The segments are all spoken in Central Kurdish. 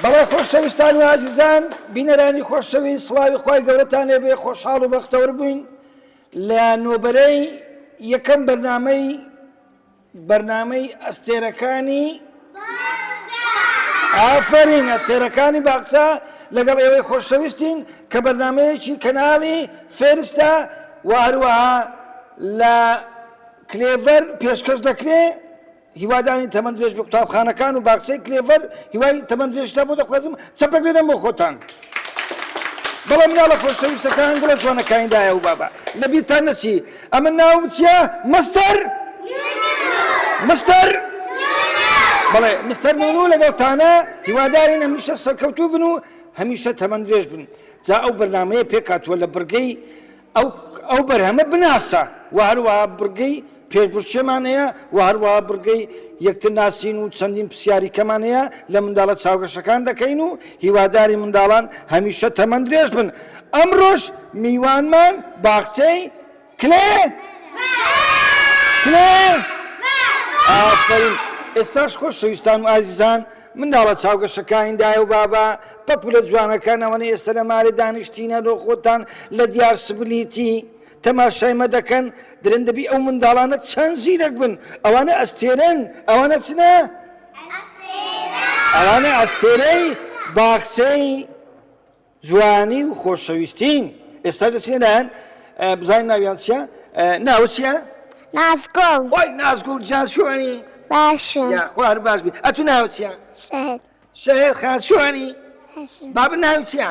بەڵێ خۆشەویستان و ئازیزان بینەرانی خۆشەویست سڵاوی خی گەورەتان لێبێ خۆشحاڵ و بەختەور بووین لە نۆبەرەی یەکەم بەرنمەی بەرنامەی ئەستێرەکانی باخچە. ئافەرین ئەستێرەکانی باخچە لەگەڵ ئێوەی خۆشەویستین کە بەرنامەیەکی کەناڵی فێرستە و هەروەها لە کلێڤەر پێشکەش دەکرێ هیوادانی تەمەند درێژ بە قوتابخانەکان و باخچەی کلێڤەر هیوای تەمەند درێژتا بۆ دەخوازم چەپێک لێدەم بۆ خۆتان. بەڵام مناڵە خۆشەویستەکان گوڵە جوانەکانیدایە و بابا لەبیرتان نەچی ئەمن ناوم چیە مستەر مستەر بەڵێ مستەر نونو لەگەڵ تانە هیوادارین هەمیشە سەرکەوتوو بن و هەمیشە تەمەند درێژ بن جا ئەو بەرنمەیە پێکاتوە لە بڕگەی ئەو ئەو بەرهەمە بناسە و هەروە بڕگەی پێشبشتێمان هەیە و هەروە بڕگەی یەکتر ناسین و چەندین پرسیاری کەمان هەیە لە منداڵە چاوگەشەکان دەکەین و هیوادارین منداڵان هەمیشە تەمەندرێژ بن. ئەمڕۆش میوانمان باخچەی کلێ کلێ ئافەرین ئێستاش خۆشەویستان و ئازیزان منداڵە چاوگەشەکانی دایە و بابا پەپولە جوانەکان ئەوەنە ئێستا لە مارێ دانیشتینە لۆ خۆتان لە دیار سبلیتی تەماشای مە دەکەن درن دەبی ئەو منداڵانە چەند زیرەک بن ئەوانە ئەستێرەن ئەوانە چنە ئەوانە ئەستێرەی باخچەی جوانی و خۆشەویستین ئێستا دەچێن لایەن بزانین ناویان چیە ناو چیە نازگوڵ خۆی نازگوڵ جان شوێنی باشە خوار باش بی ئەتو ناو چیە شەهێت خان شوێنی باب ناو چیە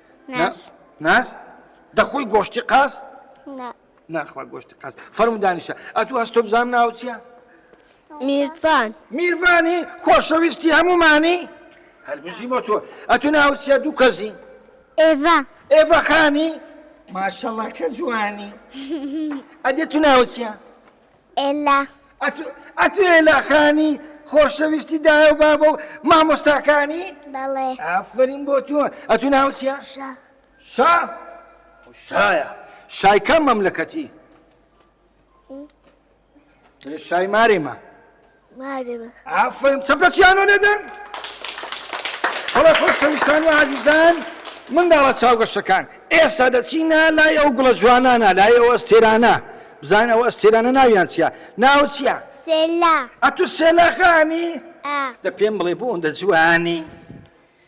ناس ناس دەخۆی گۆشتی قاس ناخوا گۆشتی قاس فەرم دانیشە ئەتو هەست تۆ بزانام ناو چیە میرفان میرفانی خۆشەویستی هەمومانی هەربژی بۆ تۆ ئەتو ناو چیە دوو کەزی ئێڤا ئێڤا خانی ماشەڵە کە جوانی ئەدێ تو ناو چیە ئێلا. ئەتو ئەتو ئێلا خانی خۆشەویستی دایە و بابە و مامۆستاکانی؟ بەڵێ. ئافەرین بۆ تۆ. ئەتو ناوت چیە؟ شا. شا؟ شایە. شای کام مەملەکەتی؟ شای مارێمە. ئافەرم چەپەکیانۆ لێدەن بەڵێ خۆشەویستان و عزیزان منداڵە چاوگەشەکان ئێستا دەچینە لای ئەو گوڵە جوانانە لای ئەو ئەستێرانە بزان ئەو ئەستێرانە ناویان چیە ناو چیە ئەتو سێلاخانی دە پێم بڵێ بۆ ئەوەندە جوانی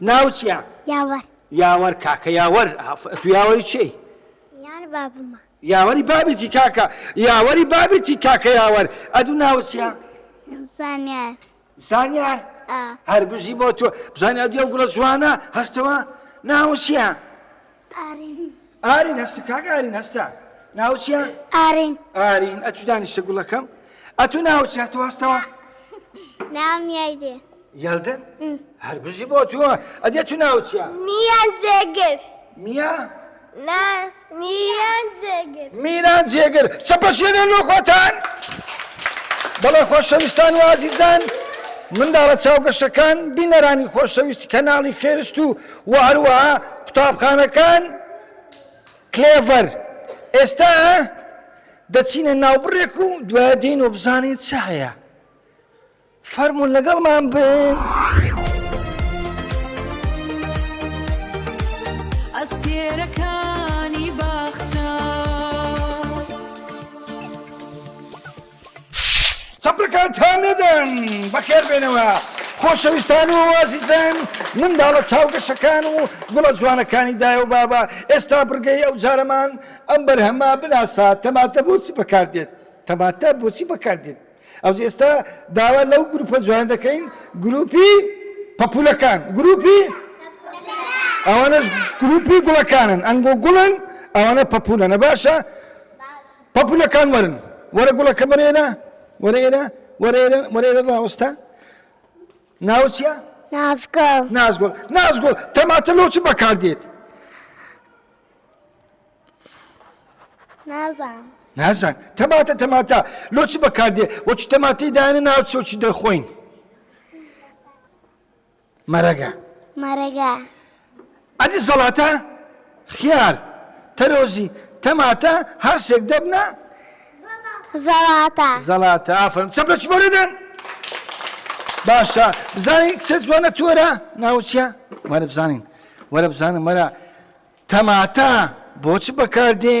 ناوت چیە؟ یاوەر. یاوەر کاکە یاوەر ئەتو یاوەری چێی؟ یاوەری بابمە. یاوەری بابیتی کاکە یاوەری بابیتی کاکە یاوەر ئەدو ناوت چیە؟ زانیار. زانیار؟ ئا. هەربژی بۆ تۆ بزانیار دیەو گوڵە جوانە هەستەوە ناوت چیە؟ ئارین ئارین هەست کاک ئارین هەستە ناوچیە ئارین ئارین ئەتو دانیشە گوڵەکەم ئەتو ناوچیە تو هەستەوە نام یایدێ یادن هەر بژی بۆ تۆ ئەدێ تو ناوچیە میان جێگر میا لا میان جێگر میران جێگر چەپە شوێنێن بۆ خۆتان بەڵێ خۆشەویستان وازیزان. منداڵە چاوگەشەکان بینەرانی خۆشەویستی کەناڵی فێرست و وە هەروەها قوتابخانەکان کلێڤەر ئێستا دەچینە ناوبڕێک و دوایە دێن و بزانین چ هەیە فەرمونون لەگەڵمان بن. ئەستێرەکانی باخچە چەپرەکانتان نەدەن بەخێر بێنەوە خۆشەویستان و وازیزان منداڵە چاوگەشەکان و گوڵە جوانەکانی دایە و بابە ئێستا بڕگەی ئەو جارەمان ئەم بەرهەمە بناسا تەماتە بۆچی بەکاردێت تەماتە بۆچی بەکاردێت ئەو ئێستا داوا لەو گروپە جوان دەکەین گروپی پەپولەکان گروپی ئەوانش گروپی گوڵەکانن ئەنگۆ گوڵن ئەوانە پەپولەنە باشە پەپوولەکان وەرن، وەرە گوڵەکە بەرێرە، وەرە ئێرە، وەرە ئێرە، وەرە ئێرە ڕاوەستە، ناوت چییە؟ نازگوڵ. نازگوڵ، نازگوڵ، تەماتە لۆ چ بەکار دێت؟ نازانم. نازان، تەماتە تەماتە لۆ چ بەکار دێت؟ وەچ تەماتەی دایەنە ناوچۆ چ دەخۆین؟ مەرەگە. مەرەگە. ئە دیسەڵاتە خیار. تەرۆزی. تەماتە. هەرسێک دەبنە. زەڵاتە. زەڵاتە. ئافەرم چەپ لە چمۆرە دەن. باشە بزانین کچە جوانە تۆرە ناوچە وەرە بزانین وەرە بزانم وەرە تەماتە بۆچ بەکاردێ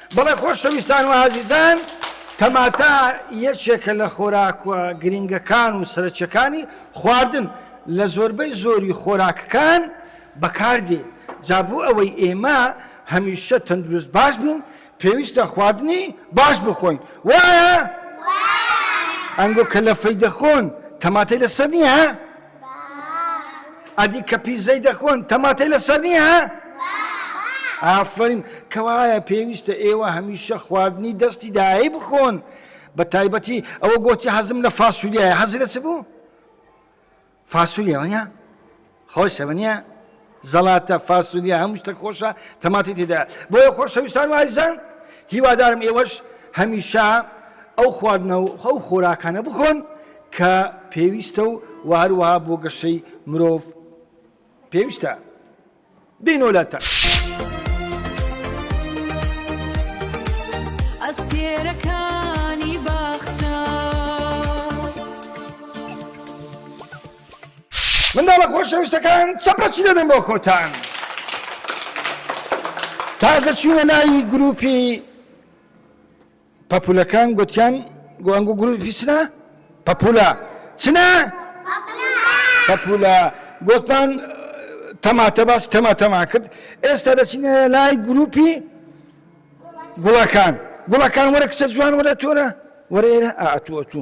بەڵێ خۆشەویستان و ئازیزان تەماتە یەکێکە لە خۆراکوە گرینگەکان و سەرەکیەکانی خواردن لە زۆربەی زۆری خۆراکەکان بەکاردێ جا بۆ ئەوەی ئێمە هەمیشە تەندروست باش بین پێویستە خواردنی باش بخۆین وایە؟ ئەنگۆ کە لەفەی دەخۆن تەماتەی لەسەر نییە؟ ئەدی کە پیزەی دەخۆن تەماتەی لەسەر نییە؟ ئافرین کەوایە پێویستە ئێوە هەمیشە خواردنی دەستی دایە بخۆن بە تایبەتی ئەوە گۆتی حەزم لە فاسولیایە حەزی لە چ بوو؟ فاسولیەوەە خۆشەوە نیە زەڵاتە، فاسۆلیا، هەموو شتەک خۆشە تەماتی تێدایە بۆیە خۆشەویستان و ئازیزان هیوادارم ئێوەش هەمیشە ئەو خواردنە و ئەو خۆراکانە بخۆن کە پێویستە و و هەروەها بۆ گەشەی مرۆڤ پێویستە بینۆلەتە. ئەستێرەکانی باخچە. منداڵە خۆشەویستەکان چەپەچی دەبێن بۆ خۆتان تازە چوونە ناوی گروپی پەپولەکان گوتیان گۆ ئەنگو گروپی چنا پەپولە چنا پەپولە گوتمان تەماتە باس تەماتەما کرد ئێستا دەچینە لای گروپی گوڵەکان گوڵەکان وەرە کسە جوان وەرە تۆرە وەرە ئێرە ئاتووە تو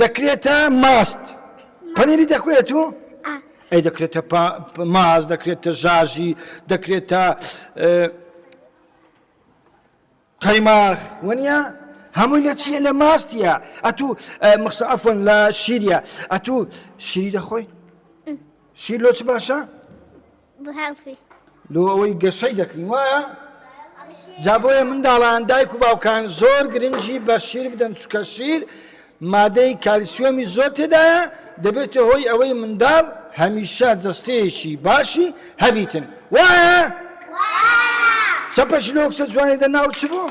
دەکرێتە ماست پەنیری دەکوێت و ئەی دەکرێتە ماز دەکرێتە ژاژی دەکرێتە قەیماخ وەنیە هەمووی لە چیە لە ماستە ئەتوو مخسە ئەفۆن لە شیریە ئەتوو شیری دەخۆی شیر لۆچ باشە لۆ ئەوەی گەشەی دەکرین وایە جا بۆیە منداڵان دایک و باوکان زۆر گرنگی بە شیر بدەن چکە شیر مادەی کالیسیۆمی زۆر تێدایە دەبێتە هۆی ئەوەی منداڵ هەمیشە جەستەیەکی باشی هەبیتن وایە چەپەش لۆ کچە جوانی دە ناو چ بۆ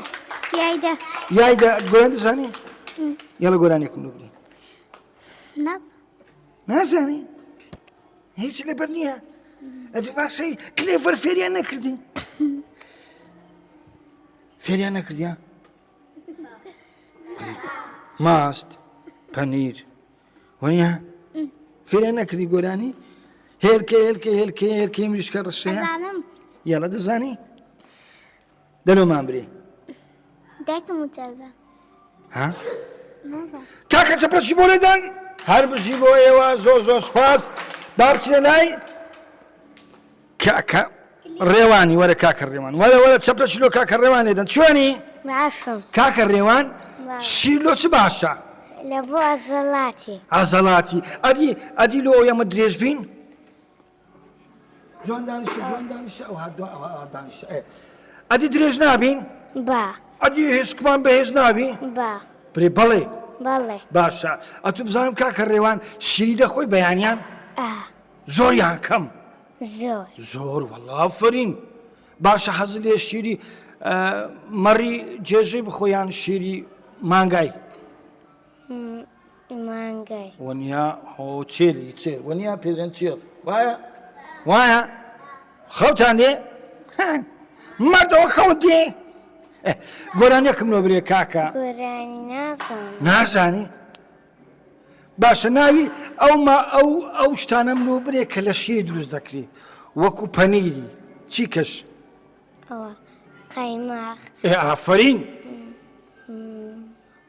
یایدا گۆیان دەزانی یاڵە گۆرانێکم لەگرین نازانی هیچ لەبەر نییە ئەدی باسەی کلێڤەر فێریان نەکردی فێریان نەکردیان ماست پەنیر وەنیە فێریان نەکردی گۆرانی هێلکە هێلکە هێلکە هێلکەی مریشکە ڕشێ یاڵە دەزانی دەلۆ مان برێ دایکم وتەزە ها کاکە چەپەچی بۆ لێدان هەر بژی بۆ ئێوە زۆر زۆر سپاس با بچێ لای کاکە ڕێوانی وەرە کاکە ڕێوان وەرە وەرە چەپە شلۆ کاکە ڕێوان لێدەن چۆنی کاکە ڕێوان شیلۆ چ باشە لە بۆ ئازەڵاتی ئازەڵاتی ئەدی ئەدی لۆ ئەمە درێژ بین جوان دانیشە جوان دانیشە ئەو هەر دوان ئەوە ئەوان دانیشە ئێ ئەدی درێژ نابین با ئەدی هێشکمان بەهێز نابی با برێ بەڵێ بەڵێ باشە ئەتو بزانم کاکە ڕێوان شیری دەخۆی بەیانیان ئا زۆریان کەم زۆر زۆر وەڵافرین باشە حەز لێ شیری ئە، مەڕی جێژەی بخۆیان شیری مانگای م، مانگای. ونیا هۆ چێری چێر ونیا پێرێن چێڕ وایە وایە خەوتان دێ مردەوە خەوت دێ گۆرانیەکم لۆ برێ کاکە نازانی باشە ناوی ئەو ما ئەو ئەو شتانم لۆ برێ کە لە شیری دروست دەکری وەکو پەنیری چی کەش ئافرین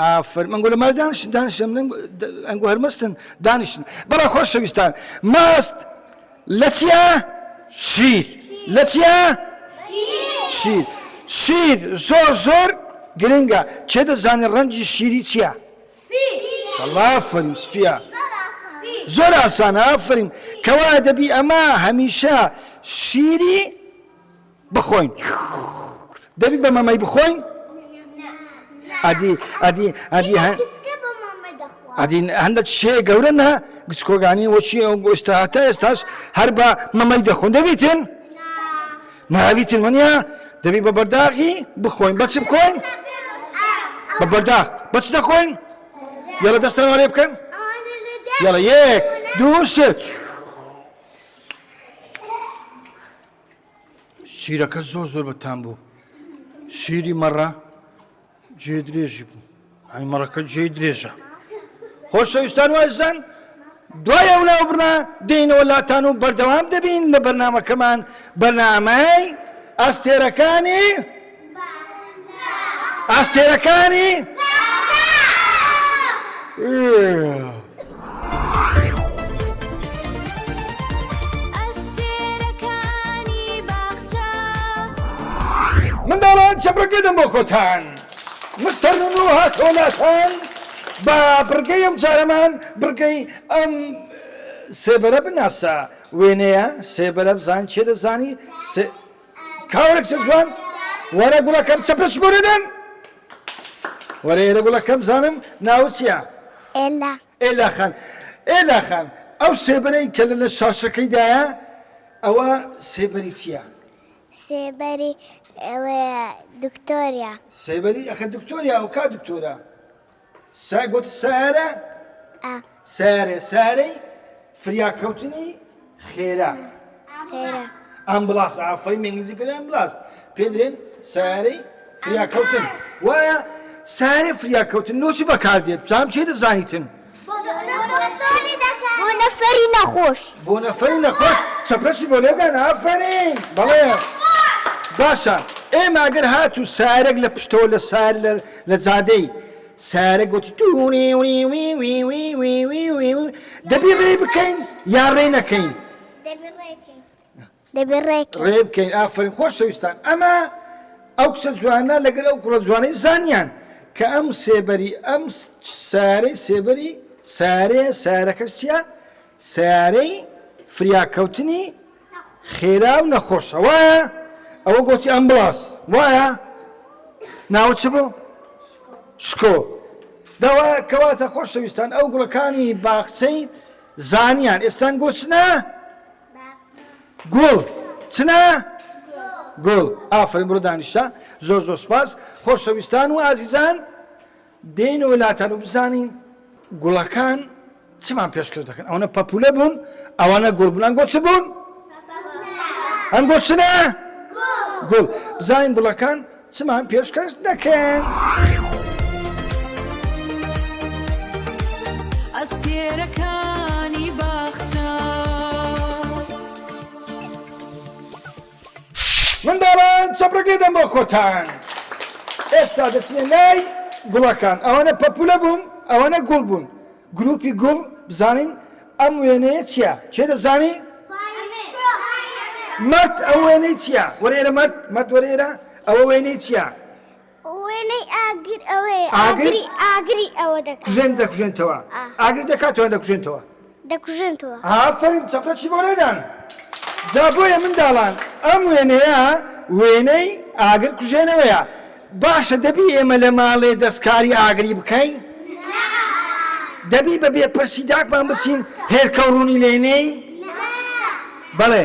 ئافەرم ئەنگۆ لەمە دانیشتن دانیشتن من ئەنگۆ هەر مەستن دانیشتن بەڵا خۆشەویستان ماست لە چیا شیر لە چیا شیر شیر زۆر زۆر گرنگە کێ دەزانێت ڕەنجی شیری چییە ئافەرین سپیە زۆر ئاسان ئافرین کەوا دەبی ئەمە هەمیشە شیری بخۆین دەبی بە مەمەی بخۆین ئەدی ئەدی ئەدی هە ئەدی هەندە شێ گەورە نە گچکۆگانی وەچی ئەو گۆشتا هەتا ئێستاش هەر بە مەمەی دەخۆن دەبیتن ناویتن منە دەبی بە بەرداغی بخۆین بەچ بخۆین بە بەرداخ بەچ دەخۆین یاڵە دەستان وارێ بکەن یاڵە یەک دوو شت شیرەکە زۆر زۆر بەتان بوو شیری مەڕە جێ درێژی بوو ئەی مەڕەکە جێ درێژە خۆشەویستان وایزان دوای ئەو ناوبڕە دێنەوە لاتان و بەردەوام دەبین لە بەرنمەکەمان بەنامای ئەستێرەکانی ئاستێرەکانی منداڵان چەپڕەکەدەم بۆ خۆتان مستەر و هاتۆ لاتان بە بڕگەی ئەم جارەمان بڕگەی ئەم سێبەرە بناسە وێنەیە سێبەرە بزان چێ دەزانی کاوە کچە جوان وەرە گوڵەکەم چەپە چ بۆ نەدەن وەرە ئێرە گوڵەکەم بزانم ناوت چییە؟ ئێلا ئێلا خان ئێلا خان ئەو سێبەرەی کە لە لە شاشەکەیدایە ئەوە سێبەری چییە؟ سێبەری ئەوەیە دکتۆریا سێبەری ئەخە دکتۆریا ئەو کا دکتۆرە سا گوت سارە ئا. سارێ سارەی فریاکەوتنی خێرا ئا. خێرا. ئەمبڵاس ئافەرین بە ئینگلیزی پێ ئەمبڵاس پێ درێن سارەی فریاکەوتن وایە سارێ فریاکەوتن لۆ چ بەکاردێت بزانم چێ دەزانیتن بۆ نەفەری دەکات. بۆ نەفەری نەخۆش. بۆ نەفەری نەخۆش چەپرەسی بۆ لێدان ئافەرین بەڵێ. باشە ئێمە ئەگەر هاتوو سارێک لە پشتەوە لە سار لە لە جادەی سارە گوتی دەبی ڕێ بکەین یا ڕێ نەکەین دەبێ ڕێ بکەین ئافرین خۆشەویستان ئەمە ئەو کچە جوانە لەگەر ئەو کوڕە جوانەی زانیان کە ئەم سێبەری ئەم سارەی سێبەری سارێ سارەکەسیە سارەی فریاکەوتنی خێرا و نەخۆشە وایە؟ ئەوە گۆتی ئەمبڵاس وایە؟ ناوت چ بوو؟ شکۆ دەوا کەواتە خۆشەویستان ئەو گوڵەکانی باخچەی زانیان ئێستان گۆچنە گوڵ چنە گوڵ ئافرین بڕۆ دانیشە زۆر زۆر سپاس خۆشەویستان و ئازیزان دێنەوە لاتان و بزانین گوڵەکان چمان پێشکەش دەکەن ئەوەنە پەپولە بوون ئەوانە گوڵ بوون ئەنگۆ چ بوون ئەنگۆ چنە گوڵ بزانین گوڵەکان چمان پێشکەش دەکەن. ئەستێرەکانی باخچە منداڵان چەپرەک لێ دەم بۆ خۆتان ئێستا دەچنە لای گوڵەکان ئەوەنە پەپولە بوون ئەوەنە گوڵ بوون گروپی گوڵ بزانین ئەم وێنەیە چییە کێ دەزانی مرد ئەو وێنەی چییە وەرە ئێرە مرد مرد وەرە ئێرە ئەوە وێنەی چییە وێنەی ئاگر ئەوەیە ئاگر ئاگری ئەوە دەکات کوژێن دەکوژێنتەوە ئاگر دەکاتەوە دەکوژێنتەوە دەکوژێنتەوە ئافەرین چەپرەکی بۆ لێدان جا بۆیە منداڵان ئەم وێنەیە وێنەی ئاگر کوژێنەوەیە باشە دەبی ئێمە لە ماڵێ دەستکاری ئاگری بکەین دەبی بە بێ پرسی داکمان بچین هێرکەوڕوونی لێنین بەڵێ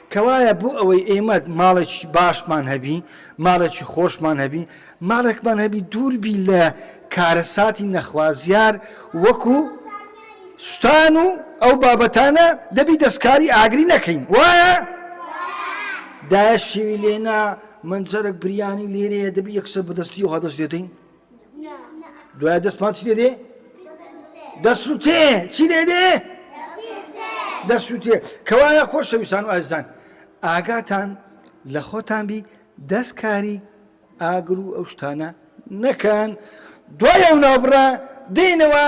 کەوایە بۆ ئەوەی ئێمە ماڵێکی باشمان هەبی ماڵێکی خۆشمان هەبی ماڵێکمان هەبی دووربی لە کارەساتی نەخوازیار وەکو سوستان و ئەو بابەتانە دەبی دەستکاری ئاگری نەکەین وایە دایە شێوی لێنا منجەرەک بریانی لێرەیە دەبی یەکسەر بەدەستی و هەدەست دێتین دوای دەستمان چی دێ دەسووتێ چی لێ دێ دەسووتێ کەوایە خۆشەویستان و ئازان ئاگاتان لە خۆتان بی دەستکاری ئاگر و ئەو شتانە نەکەن دوای ئەو ناوبڕە دێنەوە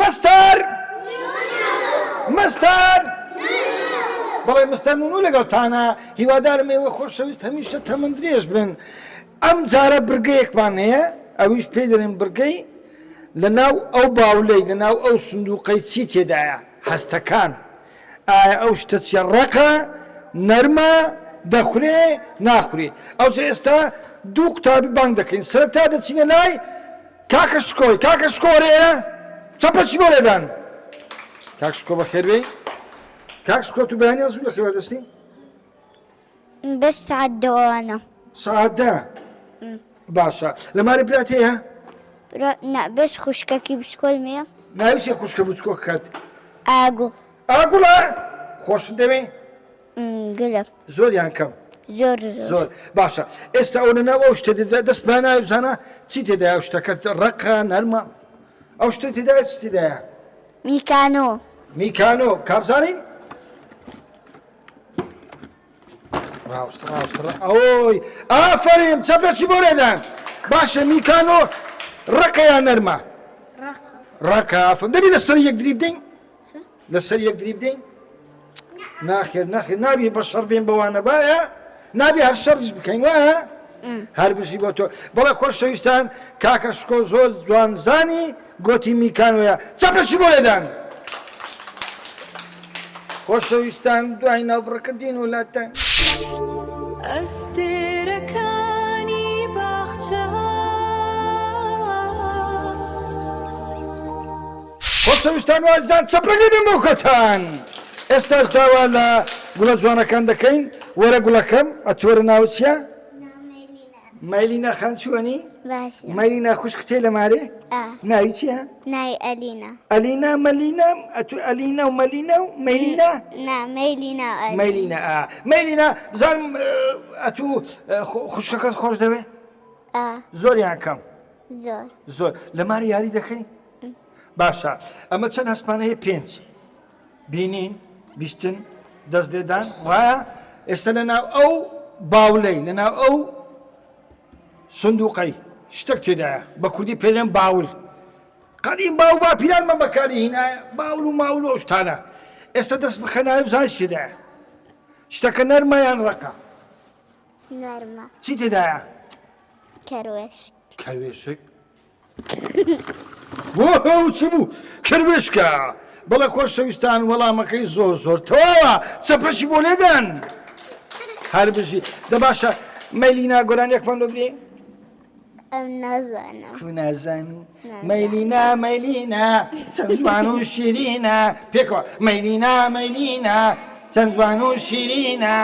مستەر نونو مستەر نونو. بەڵێ مستەر نونو لەگەڵتانە هیوادارم ئێوەی خۆشەویست هەمیشە تەمەن درێژ بن ئەم جارە برگەیەکمان هەیە ئەویش پێی دەرێن برگەی لە ناو ئەو باولەی لە ناو ئەو سندوقەی چی تێدایە هەستەکان ئایا ئەو شتە چیە ڕەقە نەرمە دەخورێ ناخورێ ئەوجە ئێستا دوو قوتابی بانگ دەکەین سەرەتا دەچینە لای کاکە شکۆ کاکە شکۆ وەرە ئێرە چەپە چی بۆ لێدان کاک شکۆ بەخێر بێ کاک شکۆ تو بەیانی ئەزوو لە خێوە دەستی بەش سعات دەوانە سعات دە باشە لە ماری برات هەیە بەش خوشکەکی بچکۆل مێ ناویسێ خوشکە بچکۆ کات ئاگوڵ ئاگوڵە خۆش دەوێ گلە. زۆر یان کەم؟ زۆر زۆر. زۆر. باشە ئێستا ئەوە لەناو ئەو شتە دێت دەست پیا ناوێ بزانە چی تێدایە ئەو شتەکە ڕەقە نەرمە ئەو شتە تێدایە چی تێدایە؟ میکانۆ. میکانۆ کا بزانین؟ ڕاوست ڕاوست ڕا- ئەوەی ئافەریم چەپێکی بۆ لێدان باشە میکانۆ ڕەقەیان نەرمە ڕەقە. ڕەقە ئافەرم دەبی لەسەر یەک دری بدەین لەسەر یەک دری بدەین ناخێر ناخێر نابی بە شەڕ بێن بەوانە باە نابێ هەر شەڕش بکەین وایە هەر بژی بۆ تۆ بەڵێ خۆشەویستان کاکە شکۆ زۆر جوانزانی گۆتی میکانۆە چەپەچی بۆ لێدان خۆشەویستان دوای ناوبڕەکە دین و لاتان ئەستێرەکانی باخچە خۆشەویستان و ئازیزان چەپ ڕەنگی دەم بۆ خۆتان ئێستاش داوا لە گوڵە جوانەکان دەکەین وەرە گوڵەکەم ئەتوەرە ناوە چیە؟ مەلینا خان چوەنی مەلینا خوشکتێ لە مارێ ناوی چیە؟ ناوی ئەلینا ئەلینا مەلینا ئەتو ئەلینا و مەلینا و مەلینا مەلینا مەلینا مەلینا بزان ئەتو خوشکەکەت خۆش دەوێ زۆریان کەم زۆر زۆر لە ماری یاری دەکەین؟ باشە ئەمە چەند هەستمان هەیە پێنج بینین بیستن دەست لێدان وایە ئێستا لە ناو ئەو باولەی لە ناو ئەو سندوقەی شتێک تێدایە بە کوردی پێلێن باول قەدیم باو با پیرانمە بەکاری هینایە باول و ماول و شتانە ئێستا دەست بخەناوی زای شتێدایە شتەکە نەرمەیان ڕقە نەرمە چی تێدایە کەروێش کەروێشک وەهە و چ بوو کروێشکە. بەڵێ خۆشەویستان وەڵامەکەی زۆر زۆر تەواوە چەپەکی بۆ لێدەن هەر بژی دە باشە مەلینا گۆرانیەکمان لۆ بێ ئەم نازانم کو نازانی مەلینا مەلینا چەند جوان و شیرینە پێکەوە مەلینا مەلینا چەند جوان و شیرینە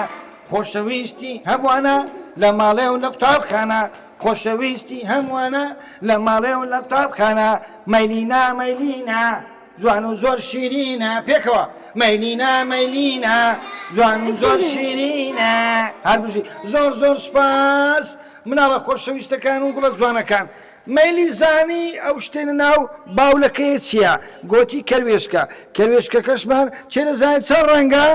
خۆشەویستی هەمووانە لە ماڵێ و لە قوتابخانە خۆشەویستی هەمووانە لە مەڵێ و لە قوتابخانە مەیلینا مەیلینا جوان و زۆر شیرینە پێکەوە مەیلینا مەیلینا جوان و زۆر شیرینە هەربژی زۆر زۆر سپاس مناڵە خۆشەویستەکان و گوڵە جوانەکان مەلی زانی ئەو شتێنە ناو باولەکەی چییە گۆتی کەروێشکە کەروێشکەکەشمان چێدەزانێت چەند ڕەنگە؟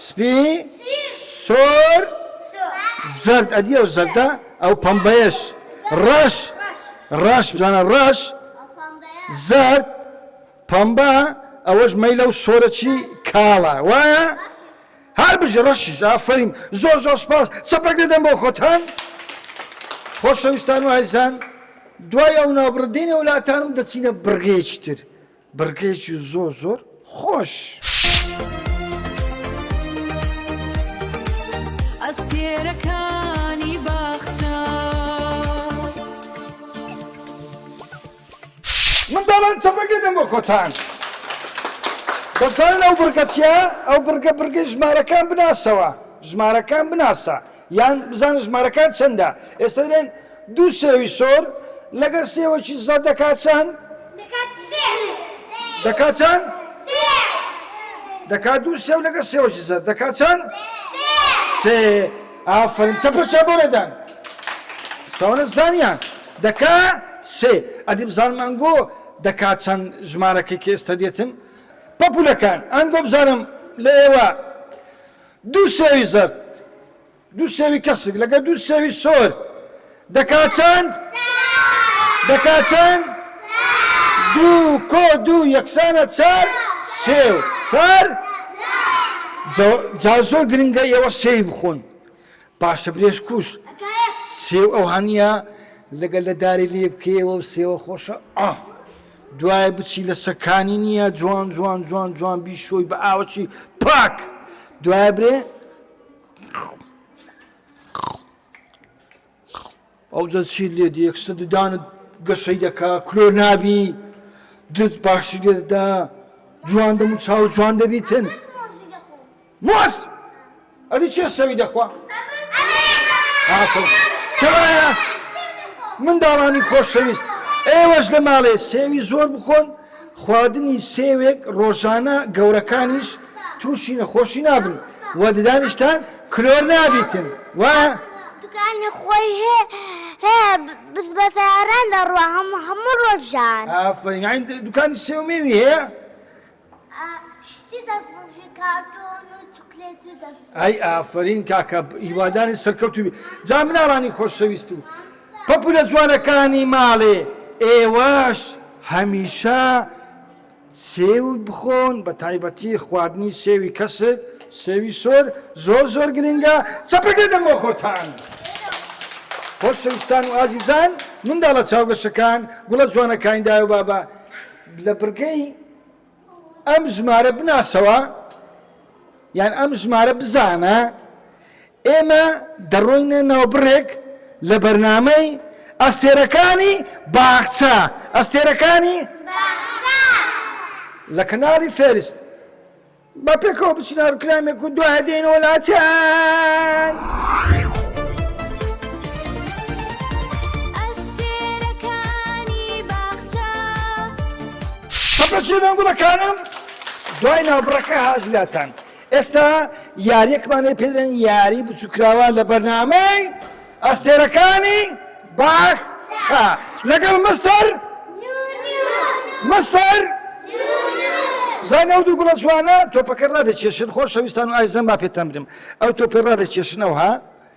سپی سۆر زرد ئەدی ئەو زەردە ئەو پەمبەیەش ڕەش ڕەش بزانە ڕەش زرد پەمبە ئەوەش مەیلە و سۆرەچی کاڵە وایە هەر بژە ڕەشیش ئافرین زۆر زۆر سپاس سەپەک دەدەم بۆ خۆتان خۆشەویستان و هایزان دوای ئەو ناوبڕدینە وڵاتانم دەچینە بڕگەیەکی تر بڕگەیەکی زۆر زۆر خۆش. منداڵان چەپەگێ دەم بۆ خۆتان دەزانن ئەو بڕگە چیە ئەو بڕگە بڕگەی ژمارەکان بناسەوە ژمارەکان بناسە یان بزانە ژمارەکان چەندە؟ ئێستا دەلێن دوو سێوی سۆر لەگەر سێوەکی زەرد دەکات چەند؟ دەکات سێ. دەکات چەند؟ سێ. دەکات دوو سێو لەگەر سێوەکی زەرد دەکات چەند؟ سێ. سێ. ئافەرین چەپە چا بۆ لێدان. سپاوانە زانیان دەکا سێ ئەدی بزانم ئەنگۆ دەکات چەند ژمارەکەی کە ئێستا دێتن پەپولەکان ئەنگۆ بزانم لە ئێوە دوو سێوی زەرد دوو سێوی کەسک لەگەر دوو سێوی سۆر دەکا چەند؟ دەکا چەند؟ دوو کۆ دوو یەکسانە چار سێو چار جا زۆر گرنگە ئێوە سێوی بخۆن پاشەبرێژ کوژ سێو ئەو هەنیە لەگەل لە داری لێ بکەیەوە و سێوە خۆشە ئا دوایە بچی لە سەکانی نییە جوان جوان جوان جوان بی شۆی بە ئاوەکی پاک دوایە برێ ئەوجە چیت لێ دێ یەکسەر ددانت گەشەی دەکا کلۆر نابی دت باشی لێ دەدا جوان دەم و چاو جوان دەبیتن مۆز ئەدی چێ سەوی دەخوا کەوایە منداڵانی خۆشەویست ئێوەش لە ماڵێ سێوی زۆر بخۆن خواردنی سێوێک ڕۆژانە گەورەکانیش تووشی نەخۆشی نابن و ددانیشتان کلۆر نابیتن وایە؟ دوکانی خۆی هەیە بە سەیاران دەڕوا هەموو ڕۆژان ئافرین دوکانی سێو مێوی هەیە ئەی ئافرین کاکە هیوادانی سەرکەوتوبی جا مناڵانی خۆشەویست و پەپولە جوانەکانی ماڵێ ئێوەش هەمیشە سێو بخۆن بە تایبەتی خواردنی سێوی کەسک سێوی سۆر زۆر زۆر گرنگە چەپەکە دەم بۆ خۆتان خۆشەویستان و ئازیزان منداڵە چاوگەشەکان گوڵە جوانەکانی دایە بابا لە بڕگەی ئەم ژمارە بناسەوە یان ئەم ژمارە بزانە ئێمە دەڕۆینە ناو بڕێک لە بەرنامەی ئەستێرەکانی باخچە ئەستێرەکانی لە کەناڵی فێرست بە پێکەوە بچنە ڕکلامێک و دوای دێنەوە لاتیان. خەفە چێ بن گوڵەکانم دوای ناوبڕەکە هات لاتان ئێستا یاریەکمان لێ پێدرێن یاری بچووکراوە لە بەرنامەی ئەستێرەکانی باخ چا لەگەڵ مستەر مستەر زانە و دوو گوڵە جوانە تۆپەکە ڕادێکێشن خۆشەویستان و ئایزەن با پێتان برم ئەو تۆپی ڕادێکێشنەوە ها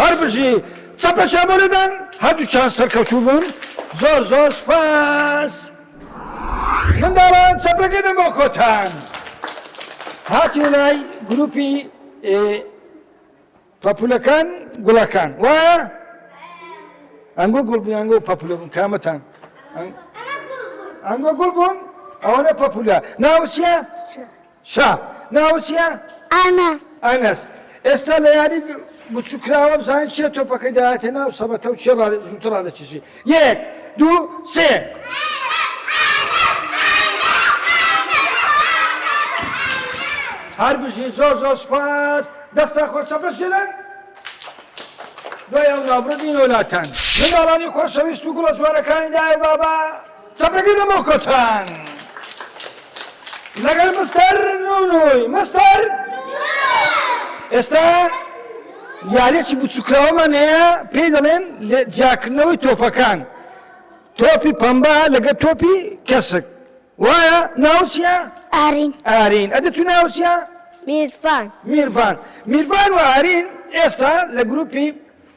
هەر بژی چەپە شەبۆ لەدەن هەردووچان سەرکەوتوو بوون زۆر زۆر سپاس منداڵان چەپەکە دەم بۆ خۆتان هاتی لای گروپی پەپولەکان گوڵەکان وا ئەنگۆ گوڵ بوون ئەنگۆ پەپولە بوون کامەتان ئەنگۆ گوڵ بوون ئەوەنە پەپولە ناوچە شا، ناوت چیە؟ ئەنەس. ئەنەس، ئێستا لە یاری بچوک کرا وابزانین چیە تۆپەکەی داهاتە ناو سەبەتە و کێ زووتر ڕادەکێشی، یەک، دوو، سێ. هەر بژی زۆر زۆر سوپاس دەستان خۆش چەپەشێنن دوای ئەو ناوبردین وەلاتان منداڵانی خۆشەویست و گوڵە جوانەکانی دایە بابا چەپەکی دە بۆ کۆتان لەگەر مستەر نونوی مستەر ئێستا یاریەکی بچووکراوەمان هەیە پێی دەڵێن لە جیاکردنەوەی تۆپەکان تۆپی پەمبا لەگە تۆپی کەسک وایە ناوچە ئارین ئارین ئەدە تو ناوچە میرفان میرفان میرفان و ئارین ئێستا لە گروپی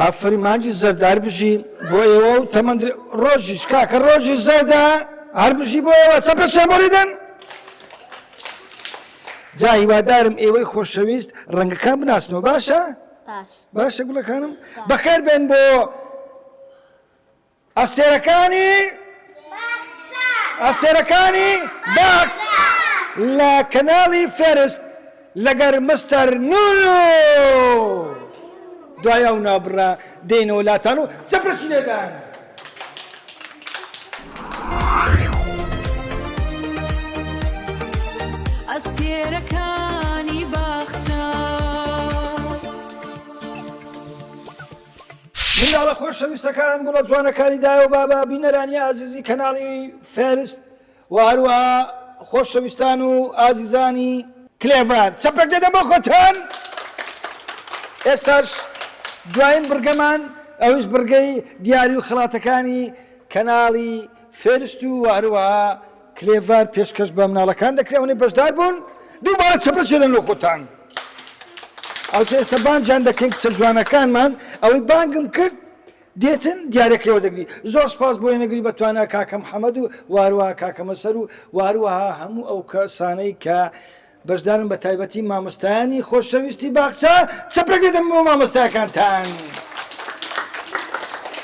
ئافەرین مانجی زەردار بژی بۆ ئێوە و تەمەند ڕۆژیش کاکە ڕۆژی زەردا هەر بژی بۆ ئێوە چە پێچێ بۆریدن جا هیوادارم ئێوەی خۆشەویست ڕەنگەکان بناسنەوە باشە باشە گوڵەکانم بەخێر بێن بۆ ئەستێرەکانی ئەستێرەکانی باخچ لە کەناڵی فێرست لەگەر مستەر نونو دوای ئەو نابڕە دێنەوە لاتان و چەپرسی لێدان. ئەستێرەکانی باخچە منداڵە خۆشەویستەکان گوڵە جوانەکانی دایە و بابە بینەرانی ئازیزی کەناڵی فێرست و هەروە خۆشەویستان و ئازیزانی کلێڤار چەپەک دەدە بۆ خۆتان ئێستاش دوایین بڕگەمان ئەوش بڕگەی دیاری و خڵاتەکانی کەناڵی فێرست و هەروەها کلێڤەر پێشکەش بە مناڵەکان دەکرێت ئەوەنەی بەشدار بوون دووبارە چەپەچێلن لۆ خۆتان ئەوتە ئێستا بانجان دەکەین کچە جوانەکانمان ئەوەی بانگم کرد دێتن دیارەکەەوە دەگری زۆر سپاس بۆ نەگری بە توانە کاکەم حەمەد و واروە کاکەمە سەر و واروەها هەموو ئەو کەسانەی کە بەشدارن بە تایبەتی مامۆستایانی خۆشەویستی باخچە چەپرەک دەدەم بۆ مامۆستاکانتان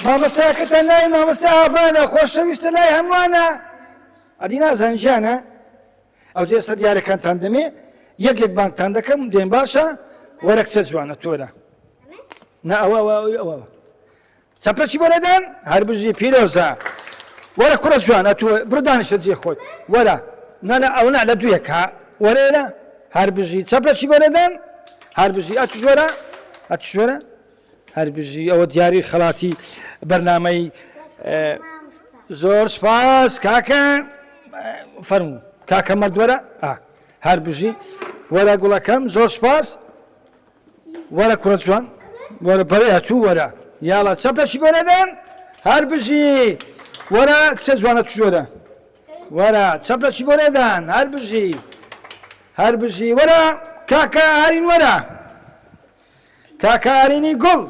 مامۆستاکەتان ناوی مامۆستا ئاڤانە خۆشەویستە لای هەمووانە ئەدی نازان ژیانە ئەو جێ سە دیارەکانتان دەمێ یەک یەک بانکتان دەکەم دێن باشە وەرەکسە جوانە تۆرە نا ئەوە ئەوە ئەوە چەپەکی بۆ نەدەن هەر بژی پیرۆزە وەرە کوڕە جوان ئەتو بڕ دانیشە جێ خۆت وەرە نانا ئەو نا لە دوێک ها وەرێرە هەر بژی چەپەکی بۆ نەدەن هەر بژی ئەتو جۆرە ئەتو جۆرە هەر بژی ئەوە دیاری خەڵاتی بەرنمەی زۆر سپاس کاکە فەرمو کاکە مەردوەرە هەر بژی وەرە گوڵەکەم زۆر سپاس وەرە کوڕە جوان وەرە بەرێ ئەتوو وەرە یاڵا چەپەشی بۆ نەدەن هەر بژی وەرە کچە جوانە تژۆرە وەرە چەپەشی بۆ نەدەن هەر بژی هەر بژی وەرە کاکە ئارین وەرە کاکە ئارینی گوڵ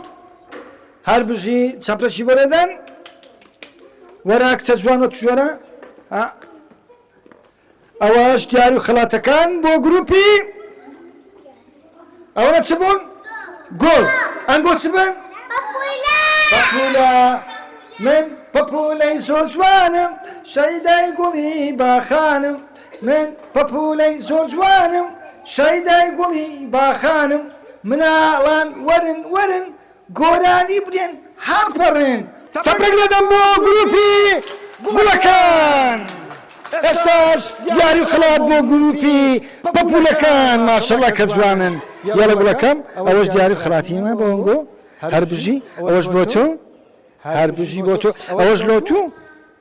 هەر بژی چەپەشی بۆ نەدەن وەرە کچە جوانە تژۆرە ئەوەش دیار و خەڵاتەکان بۆ گروپی ئەوە چ بوون؟ گوڵ ئەنگۆ چ بن؟ پەپولە من پەپولەی زۆر جوانم شەیدای گوڵی باخانم من پەپولەی زۆر جوانم شەیدای گوڵی باخانم مناڵان وەرن وەرن گۆرانی بلێن هەڵپەڕێن. چەپرەک دەدەم بۆ گروپی گوڵەکان. ئێستاش یاری و خەڵات بۆ گروپی پەپولەکان ماشەڵا کە جوانن یەڵە گوڵەکەم ئەوەش دیاری و خەڵاتی ئێمە بۆنگۆ هەربژی ئەوەش بۆ تۆ هەربژی بۆ تۆ ئەوەش لۆ تو.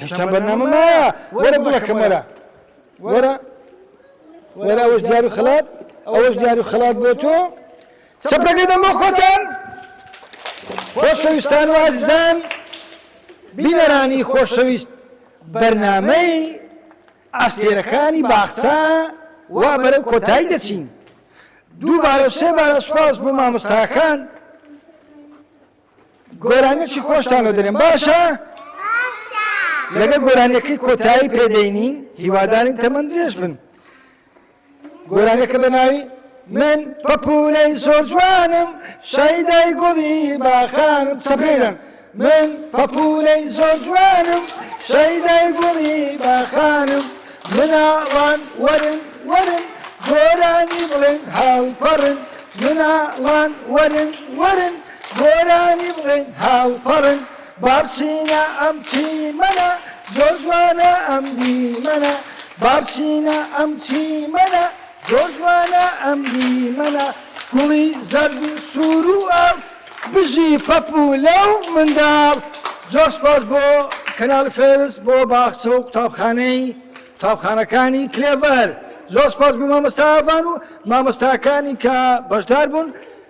هێشتا بەرنامە مایە وەرە گوڵەکەم وەرە وەرە وەرە ئەوەش دیار و خەلات ئەوەش دیار و خەلات بۆ تۆ چەپرەکەی دەم بۆ خۆتان خۆشەویستان و ئازیزان بینەرانی خۆشەویست بەرنمەی ئەستێرەکانی باخچە وا بەرەو کۆتایی دەچین دووبارە سێبارە سوپاس بۆ مامۆستاکان گۆرانیەکی خۆشتان لۆ دەنێم باشە لەگە گۆرانیەکەی کۆتایی پێدەینین هیوادارین تەمەند درێژ بن گۆرانیەکە بە ناوی من پەپولەی زۆر جوانم شایدای گۆڵی باخانم سەبرێنم من پەپولەی زۆر جوانم شایدای گۆڵی باخانم مناڵان وەرن وەرن گۆرانی بڵێن هاوپەڕن مناڵان وەرن وەرن گۆرانی بڵێن هاوپەڕن با بچینە ئەم چیمەنە زۆر جوانە ئەم دیمەنە با بچینە ئەم چیمەنە زۆر جوانە ئەم دیمەنە گوڵی زەرد و سوور و ئاو بژی پەپ و لەو منداڵ زۆر سپاس بۆ کەناڵی فێرس بۆ باخچە و قوتابخانەی قوتابخانەکانی کلێڤەر زۆر سپاس بۆ مامۆستا ئاڤان و مامۆستاکانی کە بەشدار بوون